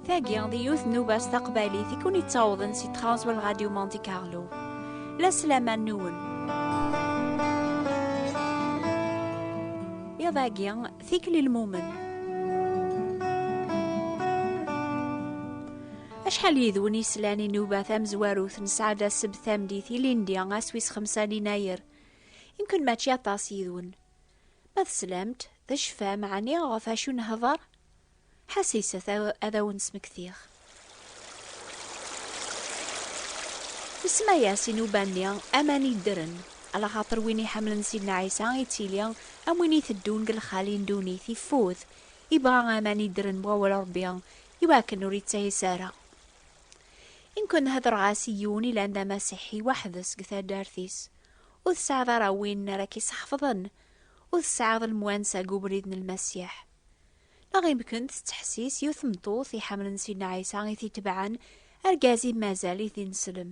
Tagi d yiwet n ubas taqbaylit i kun yettawḍen si tɣawswa n Radio Monte Carlo. La sselaman nwen. Iḍ-agi, tikli lmumen. Acḥal yid-wen yeslan i nuba tamezwarut nesɛa d aseb tamdit ilindi ass wis xemsa n inayer. Imken mačči aṭas yid-wen. Ma teslamt, tecfam ɛni ɣef acu nehḍer? Ḥasiset ad awen-smektiɣ. Nsemma-yas i nuba-nni aman yeddren, ala xaṭer win iḥemmlen Sidna Ɛisa ittili am win iteddun deg lxali n ddunit, ifud, ibɣa aman yeddren n wawal Rebbi, iwakken ur yettayes ara. I nekk nhedreɣ-as i yiwen ilan d amasiḥi weḥd-s deg taddart-is, ur tesɛiḍ ara win ara k-iseḥfḍen, ur tesɛiḍ lemwansa deg ubrid n Lmasiḥ. Neɣ imekn tettḥessis yiwet tmeṭṭut iḥemmlen Sidna Ɛisa i t-itebɛen, argaz-im mazal-it d ineslem,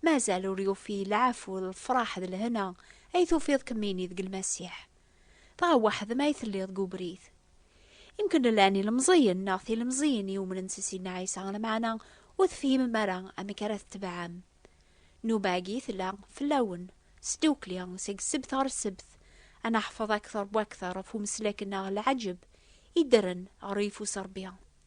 mazal ur yufi lɛafu d lefraḥ d lehna ay tufiḍ kemmini deg Lmasiḥ. Dɣa weḥd-m ay telliḍ deg ubrid. Imekn llan ilemẓiyen neɣ tilemẓiyin yumnen s Sidna Ɛisa, lameɛna ur tefhimem ara amek ara tetebɛem. Nnuba-agi tella fell-awen, s ddukkli, seg ssebt ɣer ssebt, ad naḥfeḍ akter wakter ɣef umeslak-nneɣ Lɛaǧeb iddren ɣer uyeffus Rebbi.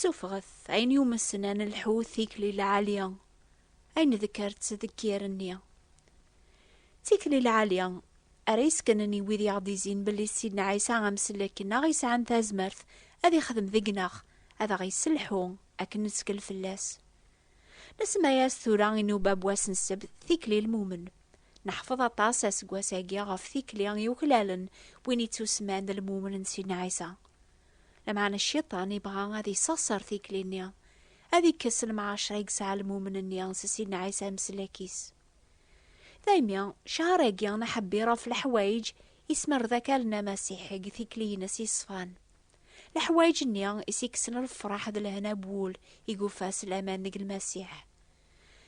Suffɣet ayen yumessen ad nelḥu tikli lɛalya ay nedkert deg yir-nni. Tikli lɛalya ara yeskenen i wid i aɣ-d-izin belli Sidna Ɛisa amsellek neɣ yesɛan tazmert ad ixdem deg-neɣ ad aɣ-yesselḥu akken nettkel fell-as. Nesemma-yas tura i nuba n wass n ssebt tikli lmumen. Neḥfeḍ aṭas aseggas-agi ɣef tikli yuklalen win ittusemman d lmumen n Sidna Ɛisa. Lameɛna Cciṭan ibɣa ad isseɣser tikli-nni, ad ikkes lemɛacer i yesɛa lmumen-nni s Sidna Ɛisa amsellek-is. Daymi, cceɛr-agi n aḥebbir ɣef leḥwayeǧ yesmerda akal n Amasiḥi deg tikli-ines yeṣfan. Leḥwayeǧ-nni i s-ikksen lefraḥ d lehna n wul i yufa s laman deg Lmasiḥ.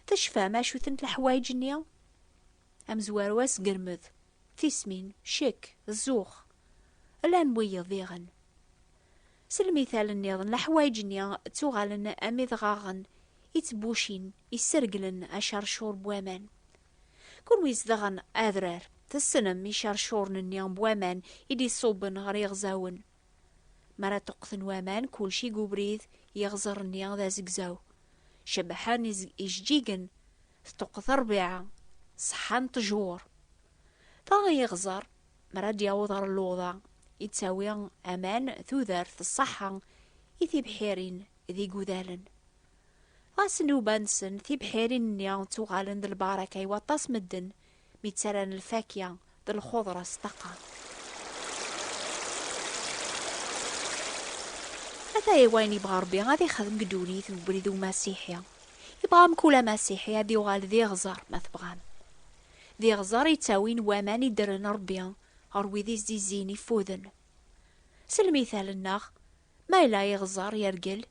Tecfam acu-tent leḥwayeǧ-nni? Amezwaru asgermed, tismin, ccek, zzux. Llan wiyeḍ diɣen. S lmithal-nniḍen, leḥwayeǧ-nni ttuɣalen am idɣaɣen ittbucin, isserglen acarcur n waman. Kunwi zedɣen adrar, tessnem icercuren-nni n waman i d-iṣubben ɣer yiɣzawen. Mi ara ṭṭuqten waman, kulci deg ubrid, iɣzer-nni d azegzaw. Cebḥen ijeǧǧigen, tṭṭuqet rrbiɛa, ṣeḥḥan ṭṭjur. Dɣa iɣzer, mi ara d-yaweḍ ɣer luḍa, yettawi aman, tudert, ṣṣeḥḥa, i tibḥirin d igudalen. Ɣas nnuba-nsen tibḥirin-nni ttuɣalen d lbaraka i waṭas medden mi ttarran lfakya d lxuḍra s ṭṭaqa. Ata i wayen yebɣa Rebbi ad ixdem deg ddunit deg ubrid umasiḥi. Yebɣa mkul amasiḥi ad yuɣal d iɣẓer, ma tebɣam. D iɣẓer i ttawin waman i ddren Rebbi ɣer wid i s-d-izzin ifuden. S lmithal-nneɣ, Ma yella iɣeẓẓer yergel,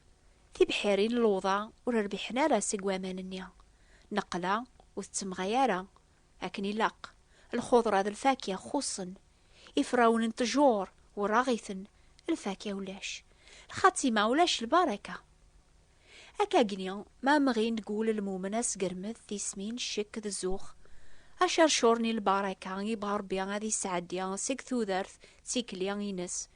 tibḥirin n lewḍa ur rbiḥen ara seg waman-nni. Nneqla ur tettemɣay ara akken ilaq. Lxuḍra d lfakya xuṣṣen. Iferrawen n ttjur werraɣ-iten, lfakya ulac. Lxatima ulac lbaraka. Akkagni ma mɣin deg wul lmumen asgermed, tismin, ccekk d zzux, acercur n lbaraka ibɣa Rebbi ad isɛeddi seg tudert d tikli ines,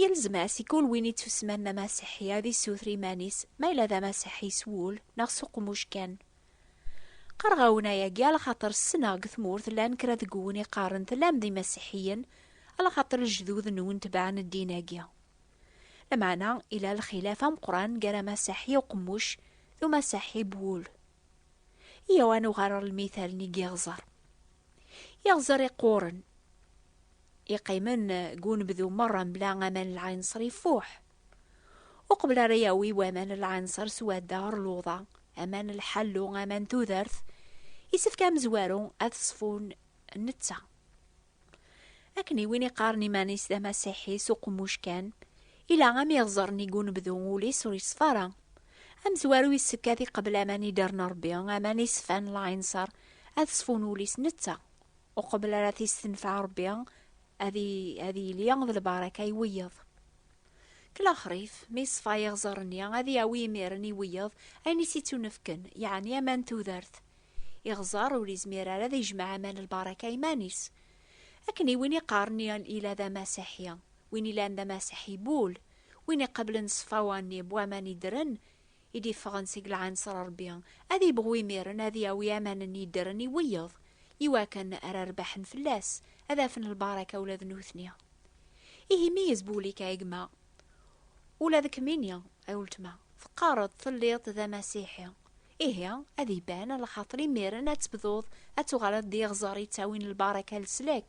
Yelzem-as i kul win ittusman d amasiḥi ad issuter iman-is ma yella d amasiḥi s wul neɣ s uqmuc kan. Qqareɣ-awen ayagi alaxaṭer ssneɣ deg tmurt llan kra deg wwen iqqaren tellam d imasiḥiyen alaxaṭer lejdud-nwen tebɛen ddin-agi. Lameɛna, yella lxilaf ameqqran gar amasaḥi uqemmuc d umasiḥi b wul. Iyaw ad nuɣal ɣer lmittal-nni n yiɣzer. Iɣzer iqquren, iqqimen deg unebdu merra mebla aman n lɛinṣer ifuḥ. Uqbel ara yawi waman n lɛinṣer swadda ɣer luḍa, aman n lḥallu, aman n tudert, yessefk amezwaru ad ṣfun netta. Akken i win iqqaren iman-is d amasiḥi s uqemmuc kan, ila am iɣzer nnig unebdu, ul-is ur yeṣfa ara. Amezwaru yessefk ad iqebel aman i d-rna Rebbi, aman iṣfan, laɛinṣer, ad ṣfun ul-is netta. Uqbel ara t-istenfeɛ Rebbi, ad yili d lbaraka i wiyeḍ. Deg lexrif, mi yeṣfa iɣzer-nni, ad yawi imiren i wiyeḍ ayen i s-ittunefken, yeɛni aman n tudert, Iɣẓer ur izmir ara ad ijmeɛ aman n lbaraka iman-is. Akken i win iqqaren ila d amaseḥi, win ilan d amaseḥi n wul, win iqablen ṣṣfawa-nni n waman yeddren i d-iffɣen seg lɛanṣer n Rebbi, ad ibɣu imiren ad yawi aman-nni yeddren i wiyeḍ, i wakken ara rebḥen fell-as, ad afen lbaraka ula d nutni. Ihi meyyez bu ul-ik a gma. Ula d kemmini, a uletma, teqqareḍ telliḍ d amasiḥi. Ihi, ad iban, a lxaṭer imiren ad tebduḍ ad tuɣaleḍ d iɣẓer yettawin lbaraka leslak,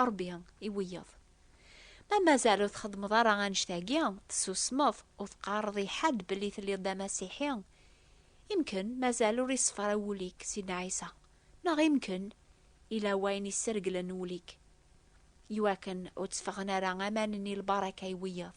Ṛebbi i wiyeḍ. Ma mazal ur txeddmeḍ ara annect-agi, tessusmeḍ, ur teqqareḍ i ḥedd belli telliḍ d amasiḥi, imken mazal ur iṣefra wul-ik Sidna Ɛisa, neɣ imken ila wayen isserglen wul-ik iwakken ur tteffɣen ara aman-nni lbaraka i wiyeḍ.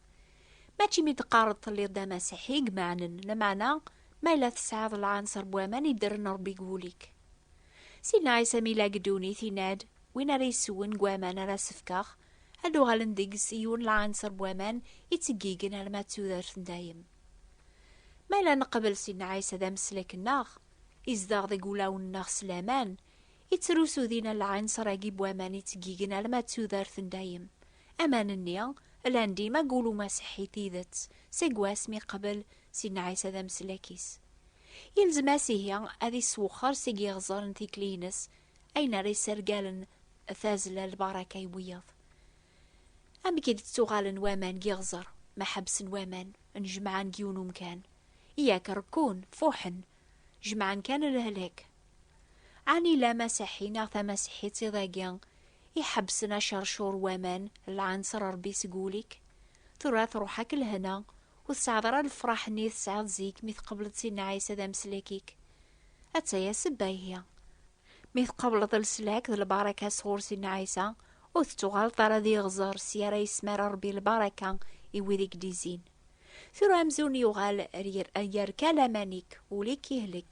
Mačči mi d-teqqareḍ telliḍ d amasiḥi i imeɛnen, lameɛna ma yella tesɛiḍ lɛanser n waman i d-rren Rebbi deg wul-ik. Sidna Ɛisa mi yella deg ddunit yenna-d, Win ara yessewwen deg waman ara as-fkeɣ, ad d-uɣalen deg-s yiwen lɛanser n waman yettgeggigen arma d tudert n dayem. Ma yella neqbel Sidna Ɛisa d ameslek-nneɣ, izdeɣ deg wulawen-nneɣ s laman, Yettrusu dinna lɛinṣer-agi n waman yettgigin alma d tudert n dayem. Aman-nni llan dima deg wul umasiḥi i tidet, seg wasmi yeqbel Sidna Ɛisa d ameslak-is. Yelzem-as ihi ad yesswexxer seg yiɣzer n tikli-ines ayen ara yessergalen tazzla n lbaraka i wiyaḍ. Amek i d-ttuɣalen waman deg yiɣzer ma ḥebsen waman, nnejmaɛen deg yiwen umkan? Yak rekkun, fuḥen, jemɛen kan lehlak. Ɛni la Masaḥi neɣ Tamasiḥit i dagi iḥebsen acercur waman lɛanser Rebbi seg wul-ik? Tura truḥ-ak lehna, ur tesɛiḍ ara lefraḥ-nni tesɛiḍ zik mi tqebleḍ Sidna Ɛisa d ameslak-ik. Attaya sebba ihi. Mi tqebleḍ leslak d lbaraka sɣur Sidna Ɛisa, ur tettuɣaleḍ ara d iɣzer si ara yesmara Rebbi lbaraka i wid i k-d-izzin. Tura amzun yuɣal yerka laman-ik, ul-ik ihlek.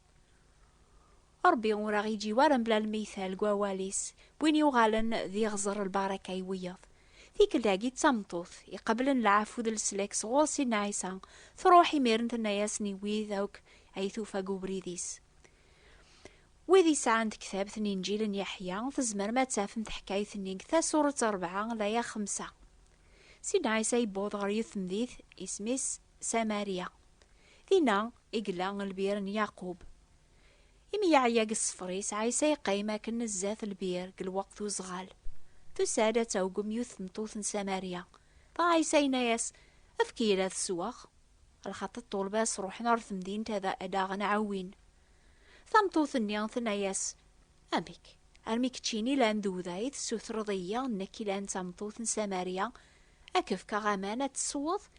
Ṛebbi ur aɣ-iǧǧi wara mebla lmeytal deg wawal-is, n win yuɣalen d iɣẓer lbaraka i wiyaḍ. Tikkelt-agi d tameṭṭut iqeblen lɛafu d leslak sɣur Sidna Ɛisa, truḥ imiren tenna-yasen i wid akk ay tufa deg ubrid-is. Wid yesɛan tektabt n Inǧil n Yeḥya, tzemrem ad tafem taḥkayt-nni deg Tasuret Ṛebɛa, laya xemsa. Sidna Ɛisa yewweḍ ɣer yiwet temdit isem-is Samarya. Dinna i yella lbir n Yaqub. Imi yeɛya deg ṣṣfer-is, Ɛisa yeqqim akken zdat lbir deg lweqt uzɣal. Tusa-d ad tɛuggem yiwet tmeṭṭut n Samarya. Dɣa Ɛisa yenna-as, Efk-iyi-d ad sweɣ. Lxaṭi ṭṭulba-s ruḥen ɣer temdint ad aɣ-nɛawin. Tameṭṭut-nni tenna-as, Amek, armi keččini la n duda i tessutreḍ-iyi, nekk i la n tameṭṭut n Samarya, ad k-fkeɣ aman ad tesweḍ?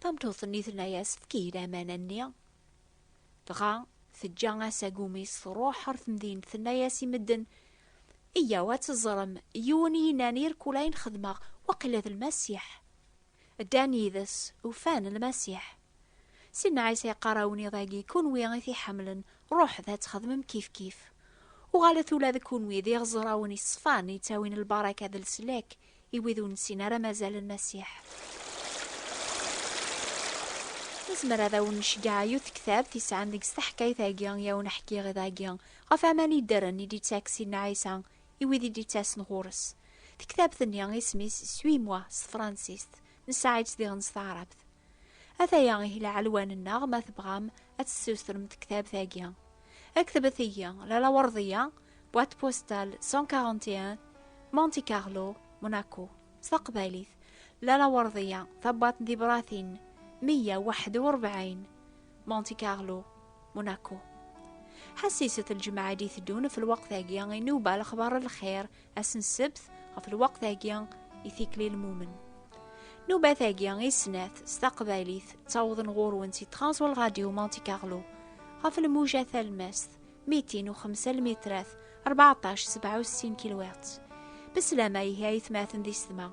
Tameṭṭut-nni tenna-yas efk-iyi laman-nni. Dɣa teǧǧa asagum-is truḥ ɣer temdint tenna-yas i medden Iyyaw ad teẓrem yiwen i yennan irkul ayen xedmeɣ waqila d lmasiḥ. Ddan yid-s ufan lmasiḥ. Sinna Ɛisa yeqqar awniḍ-agi kunwi i t-iḥemmlen ruḥet ad txedmem kifkif. Uɣalet ula d kunwi d iɣeẓrawen iṣfan yettawin lbaraka d leslak i wid ur nessin ara mazal n Masiḥ. Nezmer ad awen-nceggeɛ yiwet tektabt yesɛan deg-s taḥkayt-agi i awen-ḥkiɣ iḍ-agi ɣef aman yeddren i d-yettakksin n Ɛisa i wid i d-yettasen ɣur-s. Tektabt-nni isem-is Suis-moi s tefransist, nesɛa-itt diɣen s taɛrabt. Ataya ihi lɛelwan-nneɣ ma tebɣam ad tessustrem tektabt-agi. Ktbet-iyi Lalawerḍiya, boîte postale 141, Monte Carlo, Monaco. S taqbaylit, Lalawerḍiya, tabwaḍt n tibratin 141, Monte Carlo, Monaco. Ḥassiset lǧemɛa i d-iteddun f lweqt-agi, inuba lexbar n lxir Ass n ssebt, ɣef lweqt-agi, i tikli lmumen. Nubat-agi i snat s taqbaylit ttawḍen ɣur-wen si Transwal Radio Monte Carlo ɣef lmuja talmast 205 lmitrat 14 67 kilwert. Beslama ihi ay tmaten di sedma.